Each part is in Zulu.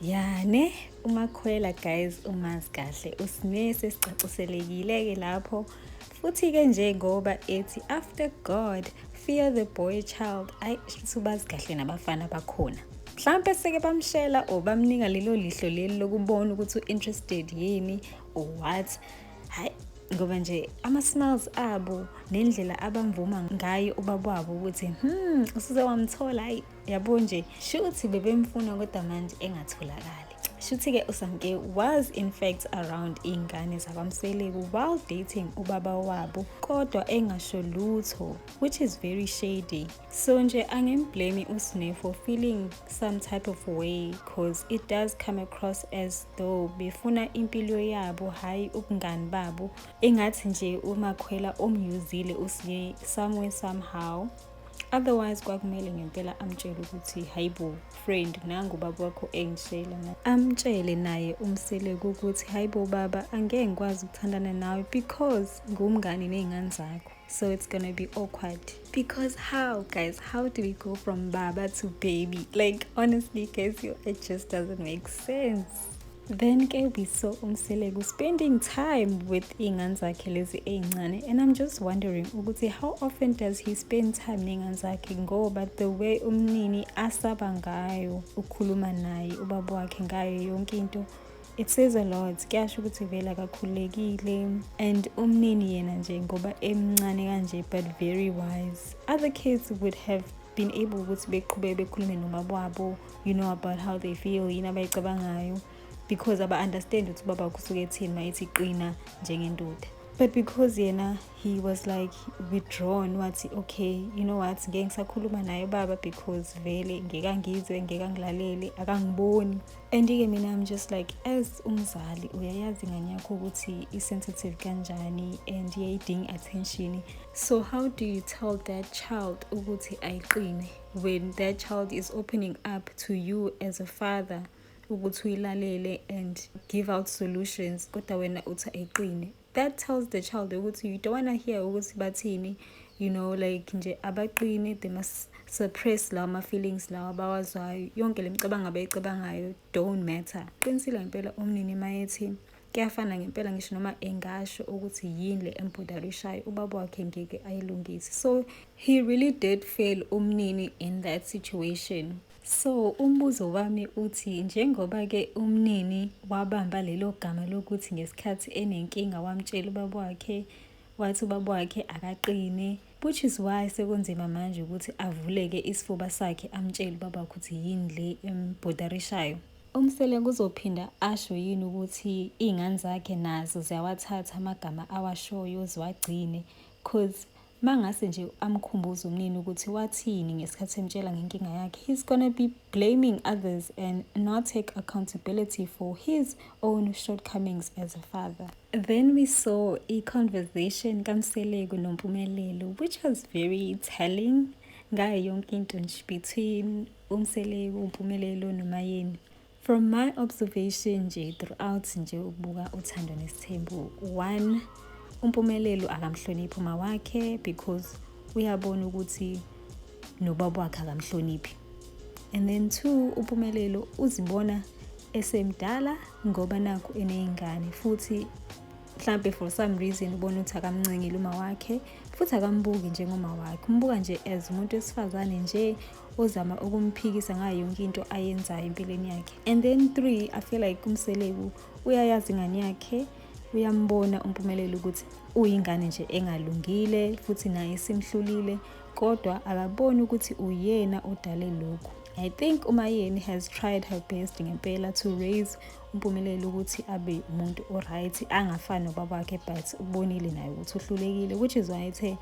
ya ne umakhwela guys umazi kahle usine sesicaciselekile-ke lapho futhi-ke nje ngoba ethi after god fear the boy child ayi subazi kahle nabafana bakhona mhlawumpe seke bamshela or bamnika lelo lihlo leli lokubona ukuthi u-interested yini or what hayi ngoba nje ama-smiles abo nendlela abamvuma ngayo ubaba wabo ukuthi hmm usuze wamthola hayi yabo nje shuthi bebemfuna kodwa manje engatholakali shuthi-ke usamke was in fact around iy'ngane zakwamseleku while dating ubaba wabo kodwa engasho lutho which is very shady so nje angimblame usne for feeling some type of way cause it does come across as though befuna impilo yabo hhayi ubungani babo engathi nje umakhwela omyuzile usiye somewhere somehow otherwise kwakumele ngempela amtshele ukuthi hayibo friend nangu baba wakho engishela amtshele naye umseleku ukuthi hayibo baba angeke ngikwazi ukuthandana nawe because ngumngani ney'ngane zakho so it's gonna be awkward because how guys how do we go from baba to baby like honestly guys it just doesn't make sense Then ke we saw Umseleku spending time with iy'ngane zakhe lezi ey'ncane and I'm just wondering ukuthi how often does he spend time ney'ngane zakhe ngoba the way umnini asaba ngayo ukhuluma naye ubaba wakhe ngayo yonke into it says a lot kuyasho ukuthi vele akakhululekile and umnini yena nje ngoba emncane kanje but very wise other kids would have been able ukuthi beqhubeke bekhulume nomababo you know about how they feel yini abayicabangayo because aba-understand ukuthi ubaba kusuke ethini ma ethi qina njengendoda but because yena he was like withdrawn wathi okay you know what ngeke ngisakhuluma naye baba because vele ngeke angizwe ngeke angilalele akangiboni and-ke mina i'm just like as umzali uyayazi ingane yakho ukuthi i-sensitive kanjani and iyayidinga attention so how do you tell that child ukuthi ayiqine when that child is opening up to you as a father ukuthi uyilalele and give out solutions kodwa wena uthi ayiqine that tells the child ukuthi you don't wanna hear ukuthi bathini you know like nje abaqine they must suppress lawa ma-feelings lawa abawazwayo yonke le micabango abayicabangayo don't matter qinisile ngempela umnini mayethi Kuyafana ngempela ngisho noma engasho ukuthi yini le embodala ushaye ubaba wakhe ngeke ayilungise. So he really did fail umnini in that situation. So umbuzo wami uthi njengoba ke umnini wabamba lelo gama lokuthi ngesikhathi enenkinga wamtshela ubaba wakhe wathi ubaba wakhe akaqine Which is why sekunzima manje ukuthi avuleke isifuba sakhe amtshele ubaba ukuthi yini le embhudarishayo. Umsele kuzophinda asho yini ukuthi iy'ngane zakhe nazo ziyawathatha amagama awashoyo ziwagcine cause mangase nje amkhumbuze umnini ukuthi wathini ngesikhathi emtshela ngenkinga yakhe he's gonna be blaming others and not take accountability for his own shortcomings as a father Then we saw a conversation kaMseleku noMpumelelo which was very telling ngayo yonke into nje between uMseleku, uMpumelelo noMayeni. From my observation nje throughout nje ukubuka uthando nesithembu one umpumelelo akamhloniphi uma wakhe because uyabona ukuthi nobaba wakhe akamhloniphi and then two umpumelelo uzibona esemdala ngoba nakhu eney'ngane futhi mhlampe for some reason ubona ukuthi akamncengile uma wakhe futhi akambuki njengoma wakhe umbuka nje as umuntu wesifazane nje ozama ukumphikisa ngayo yonke into ayenzayo empilweni yakhe and then three i feel like umseleku uyayazi ingane yakhe uyambona umpumelelo ukuthi uyingane nje engalungile futhi naye simhlulile kodwa akaboni ukuthi uyena odale lokhu I think uMayeni has tried her best ngempela to raise uMpumelelo ukuthi abe umuntu oright angafani nobaba wakhe but ubonile naye ukuthi uhlulekile which is why ethe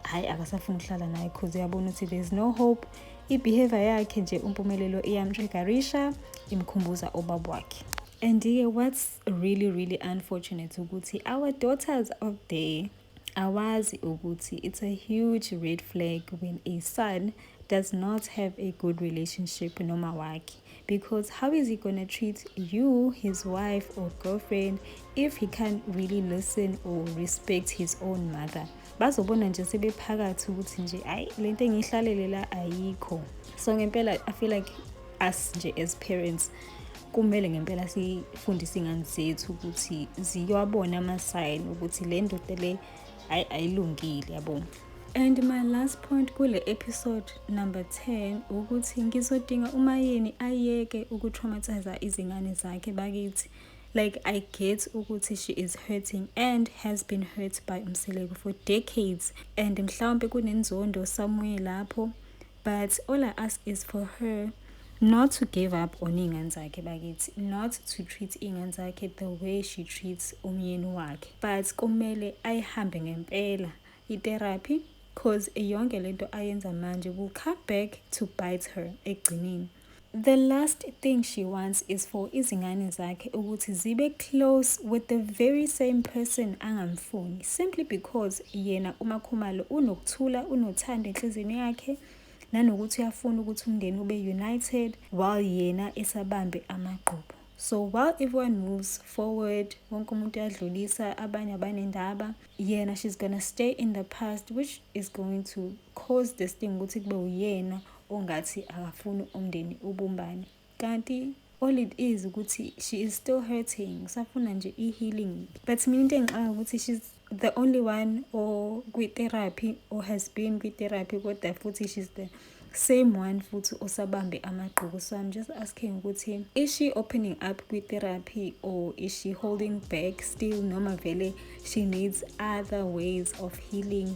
hayi akasafuni ukuhlala naye because uyabona ukuthi there is no hope i-behavior yakhe nje uMpumelelo iyamtriggerisha imkhumbuza ubaba wakhe and-ke what's really really unfortunate ukuthi our daughters out there awazi ukuthi it's a huge red flag when a son does not have a good relationship noma wakhe because how is he gonna treat you his wife or girlfriend if he can't really listen or respect his own mother bazobona nje sebephakathi ukuthi nje ayi le nto engiyihlalele la ayikho so ngempela i feel like us nje as parents kumele ngempela sifundise iy'ngane zethu ukuthi ziyowabona amasayini ukuthi le ndoda le ayi ayilungile yabo and my last point kule episode number 10 ukuthi ngizodinga umayeni ayeke ukutraumatiza izingane zakhe bakithi like i get ukuthi she is hurting and has been hurt by umseleku for decades and mhlawumbe kunenzondo somewhere lapho but all I ask is for her not to give up on iy'ngane zakhe bakithi not to treat iy'ngane zakhe the way she treats umyeni wakhe but kumele ayihambe ngempela itherapy cause yonke lento ayenza manje will come back to bite her ekugcineni The last thing she wants is for izingane zakhe ukuthi zibe close with the very same person angamfuni simply because yena uMakhumalo unokuthula unothando enhliziyweni yakhe nanokuthi uyafuna ukuthi umndeni ube united while yena esabambe amagqubu so while everyone moves forward wonke umuntu uyadlulisa abanye abanendaba yena she's gonna stay in the past which is going to cause this thing ukuthi kube uyena ongathi akafuni umndeni ubumbane kanti all it is ukuthi she is still hurting usafuna nje i-healing but mina into engixaka ukuthi she's the only one or kwi-therapy or has been kwi-therapy kodwa futhi she's the same one futhi osabambe amagqubu so i'm just asking ukuthi is she opening up kwi-therapy or is she holding back still noma vele she needs other ways of healing